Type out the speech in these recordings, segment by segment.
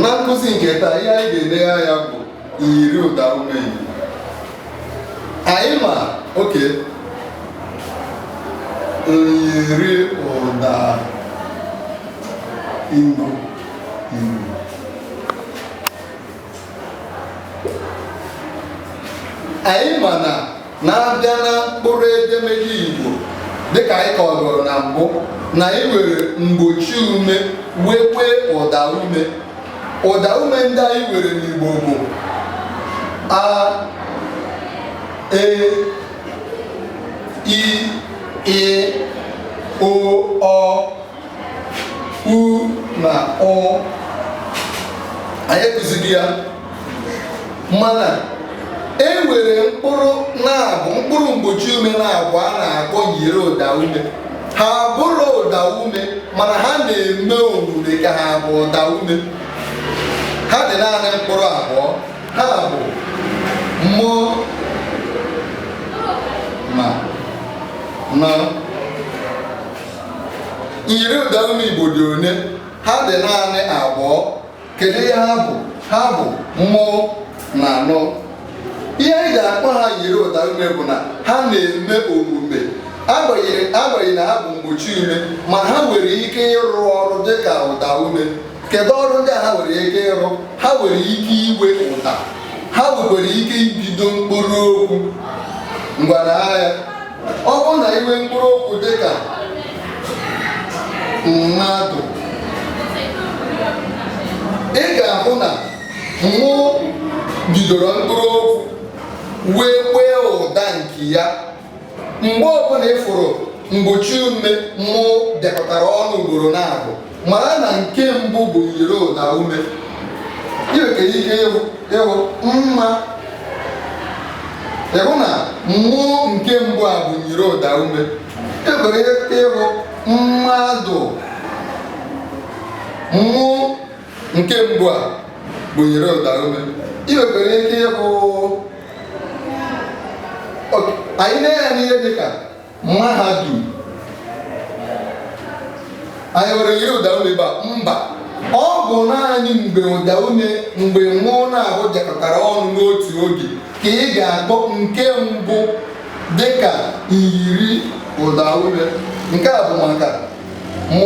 na nkụzi nke taa ihe anyị ga-enegha anya bụ myiri ụda ume Igbo anyị ma oke myiri ụda ume Igbo anyị ma na na a bịa na mkpụrụ edemede Igbo dịka anyị kọgoro na mbụ na anyị nwere mgbochi ume nwekwee ụda ume ụda ume ndị anyị nwere n'Igbo bụ a e i ị o ọ u na ụ anyị akụzigo ya mana e nwere mkpụrụ naabọ mkpụrụ mgbochi ume naabọ a na-akpọ myiri ụda ume ha abụrọ ụda ume mana ha na-eme omume ka ha bụ ụda ume ha dị naanị mkpụrụ abụọ ha bụ m na n myiri ụda ume igbo dị one ha dị naanị abụọ kedu ihe ha bụ ha bụ m na n ihe anyị ga-akpọ ha myiri ụda ume bụ na ha na-eme omume agbanyeghị na ha bụ mgbochi ume ma ha nwere ike ịrụ ọrụ dị ka ụda ume kedu ọrụ ndị a ha nwere ike ịrụ ha nwere ike inwe ụda ha nwekwara ike ibido mkpụrụ okwu ngwa nee anya ọ bụrụ na i nwee mkpụrụ okwu dị ka mmadụ ị ga-ahụ na m bidoro mkpụrụ okwu nwekwee ụda nke ya mgbe ọbụla ị fụrụ mgbochi ume m bịakọtara ọnụ ugboro naabọ mara na nke mbụ bụ myiri ụda ume i nwere ike ịhụ mma ị hụ na m nke mbụ a bụ myiri ụda ume i nwere ike ịhụ mmadụ m nke mbụ a bụ myiri ụda ume i nwekwere ike ịhụ anyị nee anya n'ihe dịka mahadum anyị nwere myiri ụda ume ebe a mba ọ bụ naanị mgbe ụda ume mgbe m naabọ jekọtara ọnụ n'otu oge ka ị ga-akpọ nke mbụ dịka myiri ụda ume nke a bụ maka m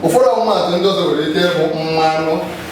ụfọdụ ọmụmatụ ndị ọzọ nwere ike ịbụ mmanụ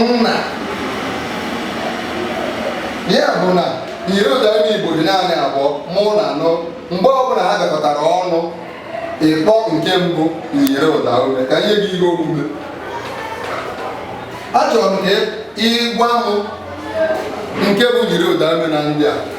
nna ya bụ na myiriụdaume Igbo dị naanị abụọ m na n mgbe ọbụla ha gakọtara ọnụ ị kpọọ nke mbụ myiriụdaume ka m nye gị ihe omume achọrọ m ka ị gwa m nke bụ myiriụdaume na ndị a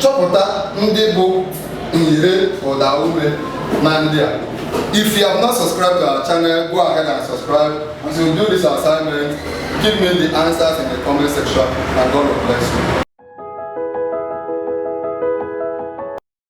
Chọpụta ndị bụ myiriụdaume na ndị a. If you have not subscribed to our channel, go ahead and subscribe. As you do this assignment, give me the answers in the comment section and God will bless you.